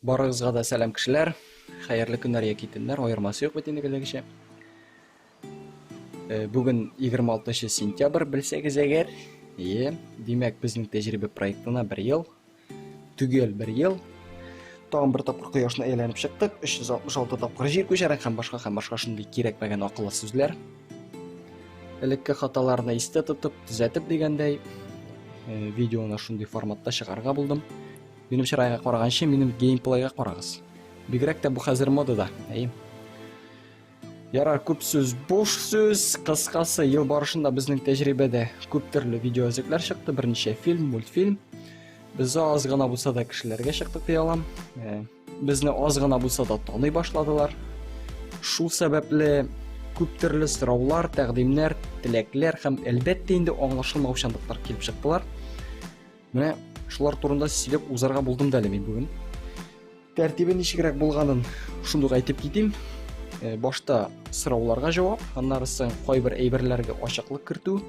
Барыгызга да сәлам кешеләр. Хәерле көннәр яки төннәр, аермасы юк бит инде киләгечә. Э, бүген 26 сентябрь белсәгез әгәр, е, димәк безнең тәҗрибә проектына бер ел, түгел бер ел. Тагын бер тапкыр кояшны әйләнеп чыктык, 366 тапкыр җир күчәрәк һәм башка һәм башка шундый кирәкмәгән акыллы сүзләр. элекке хаталарны истә тотып төзәтеп дигәндәй э, видеоны шундый форматта чыгарга булдым минем чырайга караганчы минем геймплейга карагыз бигрәк тә бу хәзер модада әй ярар күп сүз буш сүз кыскасы ел барышында безнең тәҗрибәдә күп төрле видеоәзекләр чыкты берничә фильм мультфильм без аз гына булса да кешеләргә чыктык ди алам э, Безне аз гына булса да таный башладылар. Шул сәбәпле күп төрле сораулар, тәкъдимнәр, теләкләр һәм әлбәттә инде аңлашылмаучанлыклар килеп чыктылар. Менә шулар турында сөйләп узарга булдым да әле мин бүген. Тәртибе ничегрәк булганын шундук әйтеп китим. Э, башта сорауларга җавап, аннары соң кайбер әйберләргә ачыклык кертү,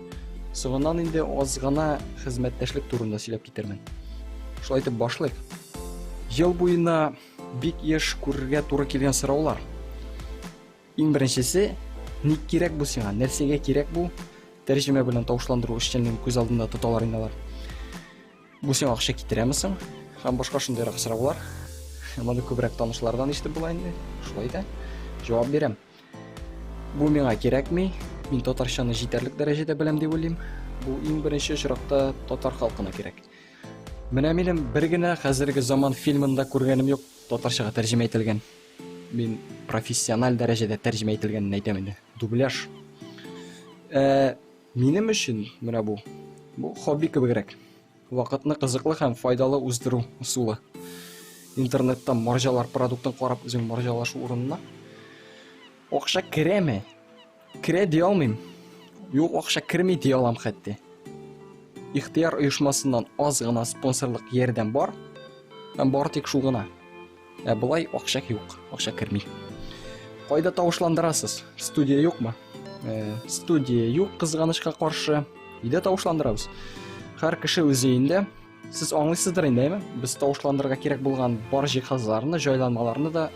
соңыннан инде аз гына хезмәттәшлек турында сөйләп китермен. Шулай итеп башлыйк. Ел буена бик еш күрергә туры килгән сораулар. Иң беренчесе, ник кирәк бу сиңа? Нәрсәгә кирәк бу? Тәрҗемә белән тавышландыру эшчәнлеген күз алдында тоталар инде алар. Бу сиңа акча китерәме соң? Һәм башка шундыйрак сораулар. Моны күбрәк танышлардан ишетеп була инде. Шулай да җавап бирәм. Бу миңа кирәкми. Мин татарчаны җитәрлек дәрәҗәдә беләм дип уйлыйм. Бу иң беренче очракта татар халкына кирәк. Менә минем бер генә хәзерге заман фильмында күргәнем юк, татарчага тәрҗемә ителгән. Мин профессиональ дәрәҗәдә тәрҗемә ителгәнен әйтәм инде. Дубляж. Ә, минем өчен менә бу. Бу хобби кебегрәк. Вакытны кызыклы һәм файдалы уздыру усулы. Интернетта марҗалар продуктын карап үзең марҗалашу урынына. Акча керәме? Керә дия алмыйм. Юк акча керми дия алам хәтти. Ихтияр оешмасыннан аз гына спонсорлык ярдәм бар. Һәм бар тик шул гына. Ә болай акча юк, акча керми. Кайда тавышландырасыз? Студия юкмы? Э, студия юк, кызганычка каршы. Өйдә тавышландырабыз. Һәр кеше үз өендә. Сез аңлыйсыздыр инде, әйме? Без тавышландырырга кирәк булган бар җиһазларны, җайланмаларны да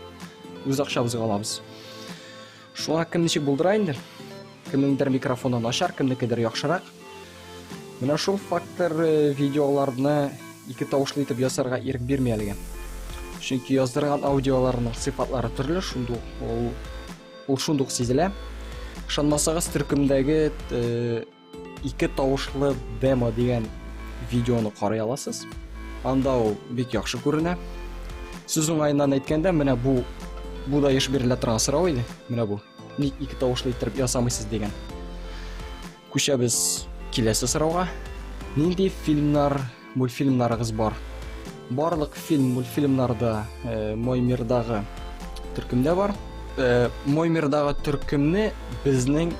үз акчабызга алабыз. Шуңа кем ничек булдыра инде? Кемнеңдер микрофоны начар, кемнекедер яхшырак. Менә шул фактор э, видеоларны ике тавышлы итеп ясарга ирек бирми әлегә. Чөнки яздырган аудиоларының сыйфатлары төрле, шундук ул ул шундук сизелә. Ышанмасагыз, төркемдәге э, Ике тавышлы демо дигән видеоны карый аласыз. Анда ул бик яхшы күренә. Сүз уңаеннан әйткәндә, менә бу бу да еш бирелә торган сорау иде. Менә бу. Ник ике тавышлы иттереп ясамыйсыз дигән. Күчәбез киләсе сорауга. Нинди фильмнар мультфильмнарыгыз бар. Барлык фильм мультфильмнарда э, Мой мирдагы төркемдә бар. Э, Мой мирдагы төркемне безнең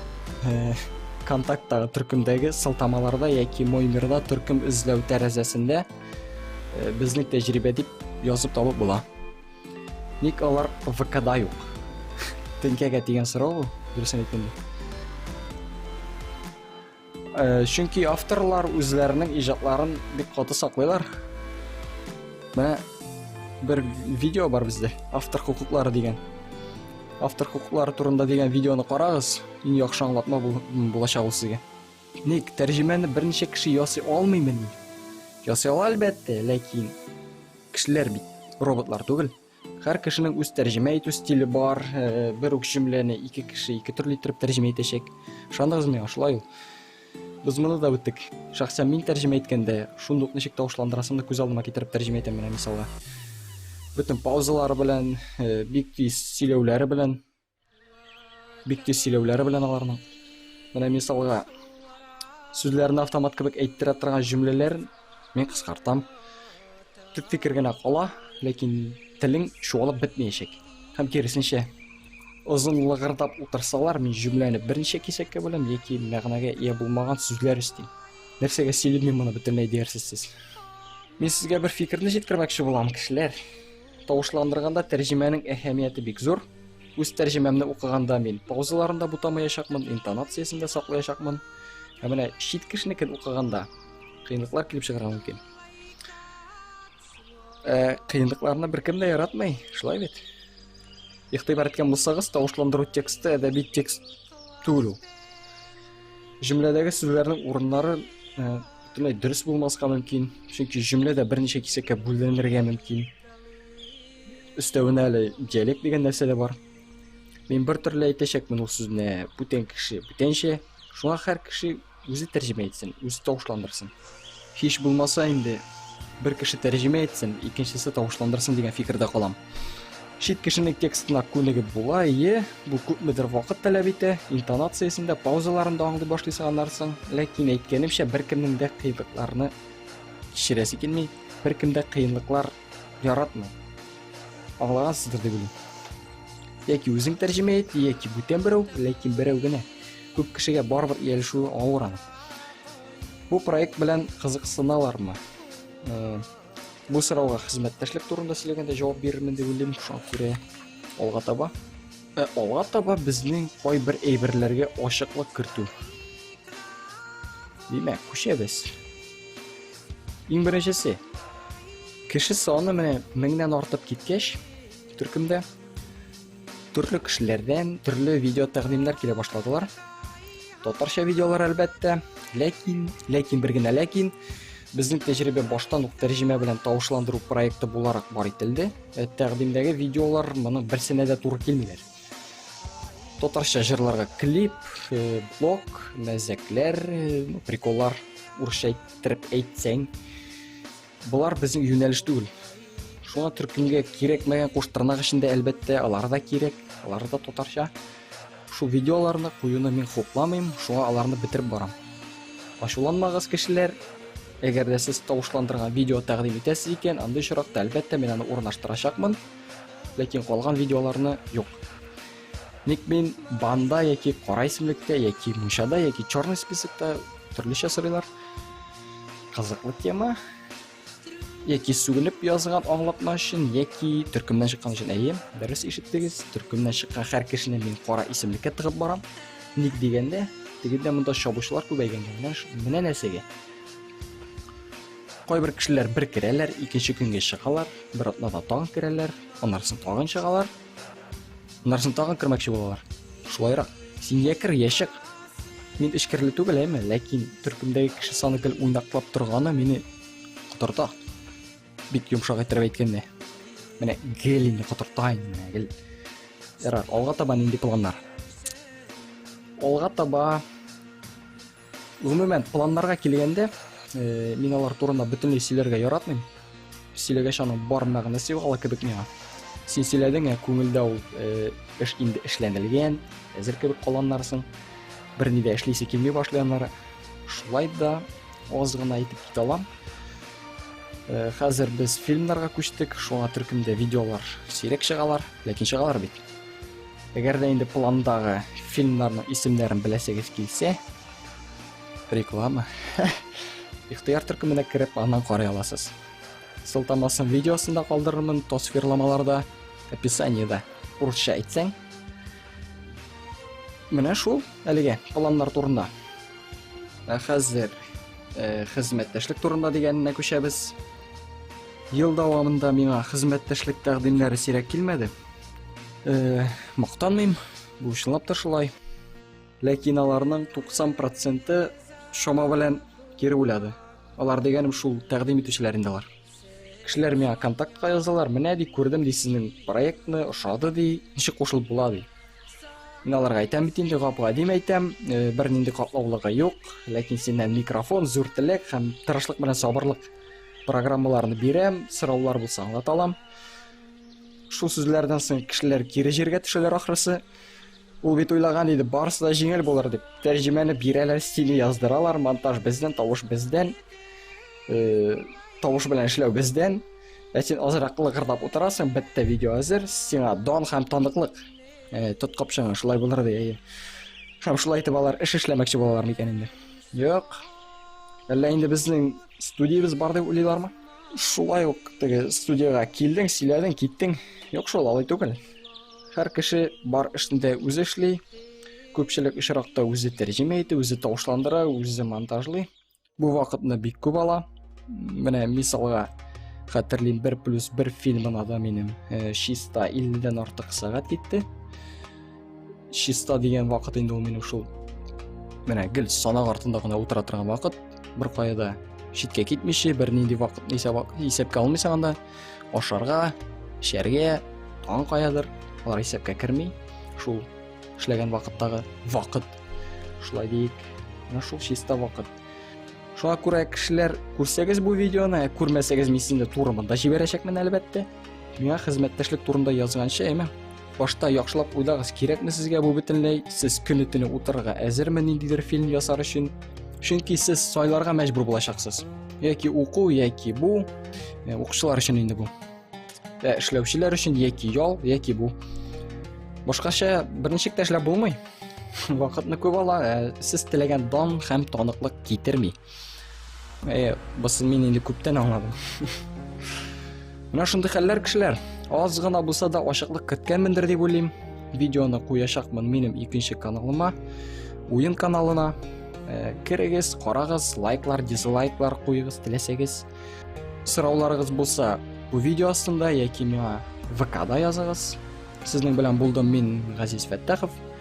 э, контакттагы төркемдәге сылтамаларда яки Мой мирда төркем эзләү тәрәзәсендә э, безнең тәҗрибә дип язып табып була. Ник алар ВКда юк? Тенкәгә дигән сорау бу, дөресен әйткәндә. Э, чөнки авторлар үзләренең иҗатларын бик каты саклыйлар. Менә бер видео бар бездә, автор хукуклары дигән. Автор хукуклары турында дигән видеоны карагыз, иң яхшы аңлатма булачак ул сезгә. Ник тәрҗемәне берничә кеше ясый алмыймы ни? Ясый ала әлбәттә, ләкин кешеләр бит роботлар түгел. Һәр кешенең үз тәрҗемә итү стиле бар. Э, бер үк җөмләне ике кеше ике төрле итеп тәрҗемә итәчәк. Ышандыгыз миңа, шулай ул. Без моны да үттек. Шәхсән мин тәрҗемә иткәндә, шундук ничек тавышландырасымны күз алдыма китереп тәрҗемә итәм менә мисалга. Бөтен паузалары белән, э, бик тиз сөйләүләре белән Бик тиз сөйләүләре белән аларның. Менә мисалга, сүзләрне автомат кебек әйттерә торган җөмләләр мин кыскартам. Төп фикер генә кала, ләкин телең чуалып бетмәячәк. Һәм киресенчә, озын лыгырдап утырсалар, мин җөмләне берничә кисәккә бүләм яки мәгънәгә ия булмаган сүзләр өстим. Нәрсәгә сөйлим мин моны бөтенләй дияр сез. Мин сезгә бер фикерне җиткермәкче булам, кешеләр. Тавышландырганда тәрҗемәнең әһәмияте бик зур. Үз тәрҗемәмне укыганда мин паузаларында бутамаячакмын, интонациясен дә саклаячакмын. Ә менә чит кешенекен укыганда кыенлыклар килеп чыгарга мөмкин. Э, кыенлыкларны беркем дә яратмый, шулай бит? Игътибар иткән булсагыз, тавышландыру тексты әдәби текст түгел ул. Җөмләдәге сүзләрнең урыннары э, бөтенләй дөрес булмаска мөмкин чөнки җөмлә дә берничә кисәккә бүленергә мөмкин өстәвенә әле диалект дигән нәрсә дә бар мин бер төрле әйтәчәкмен ул сүзне бүтән кеше бүтәнчә шуңа һәр кеше үзе тәрҗемә итсен үзе тавышландырсын һич булмаса инде бер кеше тәрҗемә итсен икенчесе тавышландырсын дигән фикердә калам Чит кешенең текстына күнегеп була, ие, бу күпмедер вакыт таләп итә, интонациясен дә, паузаларын да аңлый башлыйсың аннарсың. Ләкин әйткәнемчә, беркемнең дә кыенлыкларны кичерәсе килми, беркем дә кыенлыклар яратмый. Аңлагансыздыр дип уйлыйм. Яки үзең тәрҗемә ит, яки бүтән берәү, ләкин берәү генә. Күп кешегә барыбер иялешүе авыр аны. Бу проект белән кызыксыналармы? Э, Бу сорауга хезмәттәшлек турында сөйләгәндә җавап бирермен дип уйлыйм, шуңа күрә алга таба. Ә алга таба безнең кайбер әйберләргә ачыклык кертү. Димәк, күчәбез. Иң беренчесе. Кеше саны менә меңнән артып киткәч, төркемдә Төрле кешеләрдән төрле видео тәкъдимнәр килә башладылар. Татарча видеолар әлбәттә, ләкин, ләкин бер генә ләкин безнең тәҗрибә баштан ук тәрҗемә белән тавышландыру проекты буларак бар ителде. Э, тәкъдимдәге видеолар моның берсенә дә туры килмиләр. Татарча җырларга клип, э, блог, мәзәкләр, э, приколлар урысча әйттереп әйтсәң, Болар безнең юнәлеш түгел. Шуңа төркемгә кирәкмәгән куш тырнак эчендә әлбәттә, алар да кирәк, алар да татарча. Шул видеоларны куюны мин хупламыйм, шуңа аларны бетереп барам. Ачуланмагыз, кешеләр, Әгәр дә сез тавышландырган видео тәкъдим итәсез икән, андый очракта әлбәттә мин аны урнаштырачакмын, ләкин калган видеоларны юк. Ник мин банда яки кара исемлектә яки мунчада яки черный списокта төрлечә сорыйлар. Кызыклы тема. Яки сүгенеп язган аңлатма өчен, яки төркемнән чыккан өчен. Әйе, дөрес ишеттегез. Төркемнән чыккан һәр кешене мин кара исемлеккә тыгып барам. Ник дигәндә, тегендә монда чабучылар күбәйгән. Менә, менә нәрсәгә. Кайбер кешеләр бер керәләр, икенче көнгә чыгалар, бер атнада тагын керәләр, аннарсын тагын чыгалар. Аннарсын тагын кермәкче булалар. Шулайрак, син я кер, я чык. Мин эчкерле түгел, әйме, ләкин төркемдәге кеше саны гел уйнаклап торганы мине котырта. Бик йомшак иттереп әйткәндә. Менә гел инде котырта инде, менә гел. Ярар, алга таба нинди планнар? Алга таба Гомумән, планнарга килгәндә, э, мин алар турында бөтенләй сөйләргә яратмыйм. Сөйләгәч аның бар мәгънәсе югала кебек миңа. Син сөйләдең, ә күңелдә ул э, эш инде эшләнелгән, әзер кебек каланнарсың. Бер ни дә эшлисе килми башлаяннары. Шулай да аз гына әйтеп китә алам. Э, хәзер без фильмнарга күчтек, шуңа төркемдә видеолар сирәк чыгалар, ләкин чыгалар бит. Әгәр дә инде пландагы фильмнарның исемнәрен беләсегез килсә, реклама. Ихтыяр төркеменә кереп, аннан карый аласыз. Сылтамасын видеосында калдырырмын, тосфирламаларда, описаниеда. Урысча әйтсәң. Менә шул әлегә планнар турында. Ә хәзер э, хезмәттәшлек турында дигәненә күчәбез. Ел дәвамында миңа хезмәттәшлек тәкъдимнәре сирәк килмәде. э, мактанмыйм бу чынлап та шулай ләкин аларның 90 проценты шома белән кире уйлады алар дигәнем шул тәкъдим итүчеләр инде алар кешеләр миңа контактка язалар менә ди күрдем ди сезнең проектны ошады ди ничек кушылып була ди мин аларга әйтәм бит инде гап гадим әйтәм э, бернинди катлаулыгы юк ләкин синнән микрофон зур теләк һәм тырышлык белән сабырлык программаларны бирәм сораулар булса аңлата алам Шул сүзләрдән соң кешеләр кире җиргә төшәләр ахрысы. Ул бит уйлаган иде, барысы да җиңел булыр дип. Тәрҗемәне бирәләр, стиле яздыралар, монтаж бездән, тавыш бездән. Э, тавыш белән эшләү бездән. Ә син азрак лыгырдап утырасың, бетте видео әзер, сиңа дан һәм таныклык. Э, тот капчыгың, шулай булыр ди, әйе. Һәм шулай итеп алар эш эшләмәкче булалар микән инде? Юк. Әллә инде безнең студиябез бар дип уйлыйлармы? Шулай ук теге студиягә килдең, сөйләдең, киттең. Юк шул, алай түгел. Һәр кеше бар эшендә үзе эшли. Күпчелек очракта үзе тәрҗемә итә, үзе тавышландыра, үзе монтажлый. Бу вакытны бик күп ала. Менә мисалга хәтерлим 1 плюс 1 фильмына да минем э, чиста 50 дән артык сәгать китте. чиста дигән вакыт инде ул минем шул менә гел санак артында гына утыра торган вакыт бер кая да читкә китмичә бернинди вакытны исәпкә алмыйсың анда ашарга эчәргә тагын каядыр алар исәпкә керми шул эшләгән вакыттагы вакыт шулай дейік менә шул чиста вакыт шуңа күрә кешеләр күрсәгез бу видеоны ә күрмәсәгез мин сезне туры монда җибәрәчәкмен әлбәттә Миңа хезмәттәшлек турында язганчы, әйме? Башта яхшылап уйлагыз, кирәкме сезгә бу бөтенләй? Сез көне-төне утырырга әзерме ниндидер фильм ясар өчен? Чөнки сез сайларга мәҗбүр булачаксыз. Яки уку, яки бу, э, укучылар өчен инде бу. Ә э, эшләүчеләр өчен яки ял, яки бу. Башкача берничек тә эшләп булмый. Вакытны күп ала, э, сез теләгән дан һәм таныклык китерми. Әйе, басын мин инде күптән аңладым. Менә шундый хәлләр кешеләр. Аз гына булса да ачыклык керткәнмендер дип уйлыйм. Видеоны куячакмын минем икенче каналыма, уен каналына. Э, керегез, карагыз, лайклар, дизлайклар куегыз, теләсәгез. Сорауларыгыз булса, бу видео астында яки миңа ВКда языгыз. Сезнең белән булдым мин Газиз Фәттахов.